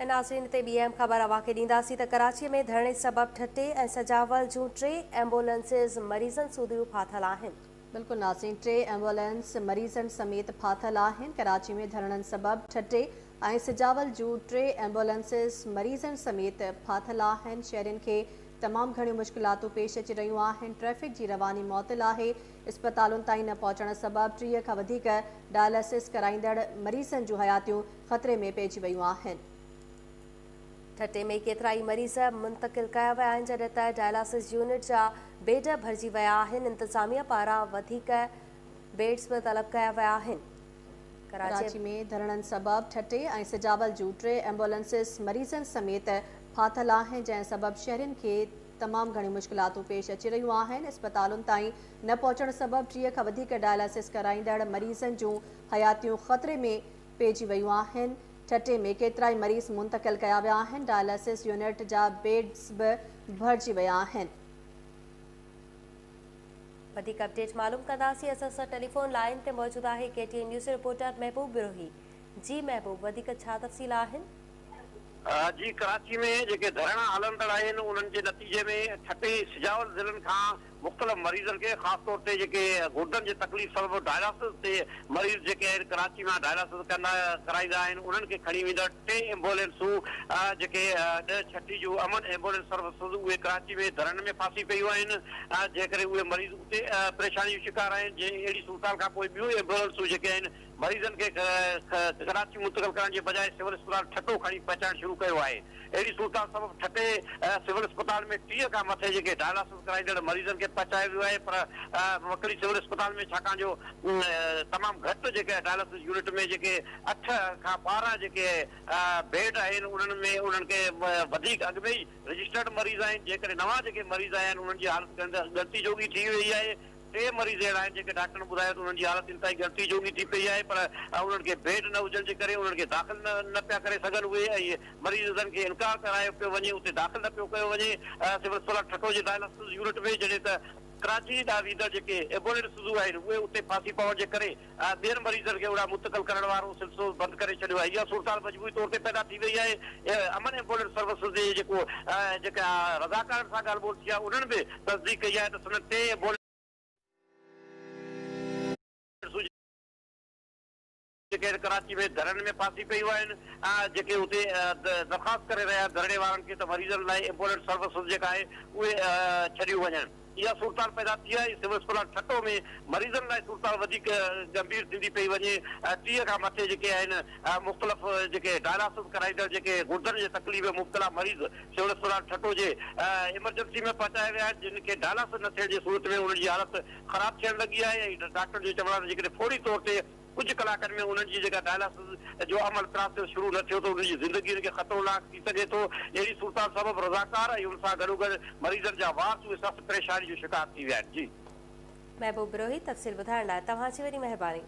ناظرين تي ٻي اهم خبر اوهان کي ڏينداسين ته ڪراچي ۾ ڌرڻي سبب ٺٽي ۽ سجاول جون ٽي ايمبولينسز مريضن سوڌيون ڦاٿل آهن. بلڪل ناظرين ٽي ايمبولينس مريضن سميت ڦاٿل آهن ڪراچي ۾ ڌرڻن سبب ٺٽي ۽ سجاول جون ٽي ايمبولينسز مريضن سميت ڦاٿل آهن شهرين کي تمام گهڻيون مشڪلاتون پيش اچي رهيون آهن ٽريفڪ جي رواني معطل آهي اسپتالن تائين نه پهچڻ سبب ٽيهه کان وڌيڪ ڊائلسس ڪرائيندڙ مريضن جون حياتيون خطري ۾ پئجي ويون آهن. ٺٽي ۾ ڪيترائي مريض منتقل ڪيا ويا آهن جڏهن ته ڊائلاسز يونٽ جا بيڊ ڀرجي ويا آهن انتظاميه پاران وڌيڪ بيڊز به طلب ڪيا ويا آهن ڪراچي ۾ ڌرڻن سبب ٺٽي ۽ سجاول جون ٽي ايمبولنسز مريضن سميت ڦاٿل آهن جنهن سبب شهرين کي تمام گهڻيون مشڪلاتون پيش اچي رهيون آهن اسپتالن تائين نه پهچڻ سبب ٽيهه کان وڌيڪ ڊائلاسز ڪرائيندڙ مريضن جون حياتيون خطري ۾ پئجي ويون آهن، ٺٽي ۾ ڪيترائي مريض منتقل ڪيا ويا آهن، ڊائلسز يونٽ جا بيڊز به ڀرجي ويا آهن. وڌيڪ اپڊيٽ معلوم ڪنداسين اسان سان ٽيليفون لائين تي موجود آهي K T N news reporter Mehboob Brohi جي محبوب وڌيڪ ڇا تفصيل آهن. جي ڪراچي ۾ جيڪي ڌرڻا هلندڙ آهن انهن جي نتيجي ۾ ٺٽي سجاول ضلعن کان مختلف مريضن کي خاص طور تي جيڪي گردن جي تڪليف سبب ڊائلاسز تي مريض جيڪي آهن ڪراچي مان ڊائلاسز ڪندا ڪرائيندا آهن انهن کي کڻي ويندڙ ٽي ايمبولينسون جيڪي ڏهه ڇٽي جون امن ايمبولينس سروسز اهي ڪراچي ۾ ڌرڻن ۾ ڦاسي پيون آهن جنهن ڪري اهي مريض اتي پريشاني جو شڪار آهن جي اهڙي صورتحال کانپوء ٻيون ايمبولينسون جيڪي آهن مريضن کي ڪراچي منتقل ڪرڻ جي بجاء سول اسپتال ٺٽو کڻي پهچائڻ شروع ڪيو آهي، اهڙي صورتحال سبب ٺٽي سول اسپتال ۾ ٽيهه کان مٿي جيڪي ڊائلاسز ڪرائيندڙ مريضن کي پهچايو ويو آهي پر وڪري سول اسپتال ۾ ڇاڪاڻ جو تمام گهٽ جيڪي ڊائلاسز يونٽ ۾ جيڪي اٺ کان ٻارهن جيڪي بيڊ آهن انهن ۾ انهن کي وڌيڪ اڳ ۾ ئي رجسٽرڊ مريض آهن جنهن ڪري نوان جيڪي مريض آيا آهن انهن جي حالت ڳڻتي جوڳي ٿي ويئي آهي، ٽي مريض اهڙا آهن جن کي ڊاڪٽرن ٻڌايو ته انهن جي حالت انتهائي ڳڻتي جوڳي ٿي پئي آهي پر انهن کي بيڊ نه هجڻ جي ڪري انهن کي داخل نه پيا ڪري سگهن اهي ۽ مريضن کي انڪار ڪرايو پيو وڃي اتي داخل نه پيو ڪيو وڃي سول اسپتال ٺٽو جي ڊائلاسز يونٽ ۾ جڏهن ته ڪراچي ڏانهن ويندڙ جيڪي ايبوليڊ سڌو آهن اهي اتي ڦاسي پوڻ جي ڪري ۽ ٻين مريضن کي اڙا منتقل ڪرڻ وارو سلسلو بند ڪري ڇڏيو آهي. اها صورتحال مجموعي طور تي پيدا ٿي وئي آهي. امن ايمبولينس سروسز جي جيڪو جيڪا رضاڪارن سان ڳالهه ٻولهه ٿي آهي انهن به تصديق ڪئي آهي ته سندن ٽي ايمبولينسون جيڪي هن ڪراچي ۾ ڌرڻن ۾ ڦاسي پيون آهن ۽ جيڪي اتي درخواست ڪري رهيا آهن ڌرڻي وارن کي ته مريضن لاء ايمبولينس سروسز جيڪا آهي اهي ڇڏيون وڃن. اها صورتحال پيدا ٿي آهي، سول اسپتال ٺٽو ۾ مريضن لاء صورتحال وڌيڪ ڳنڀير ٿيندي پئي وڃي، ٽيهه کان مٿي جيڪي آهن مختلف جيڪي ڊائلاسز ڪرائيندڙ جيڪي گردن جي تڪليف ۾ مبتلا مريض سول اسپتال ٺٽو جي ايمرجنسي ۾ پهچايا ويا آهن، جن کي ڊائلاسز نه ٿيڻ جي صورت ۾ انهن جي حالت خراب ٿيڻ لڳي آهي ۽ ڊاڪٽرن جو چوڻ آهي ته جيڪڏهن فوري طور تي ڪجهه ڪلاڪن ۾ انهن جي جيڪا ڊائلاسز جو عمل پراسيس شروع نه ٿيو ته انهن جي زندگي انهن کي خطروناڪ ٿي سگهي ٿو، اهڙي صورتحال سبب رضاڪار ۽ ان سان گڏوگڏ مريضن جا وارث اهي سخت پريشاني جو شڪار ٿي ويا آهن. جي. محبوب بروهي تفصيل ٻڌائڻ لاء توهان جي وڏي مهرباني.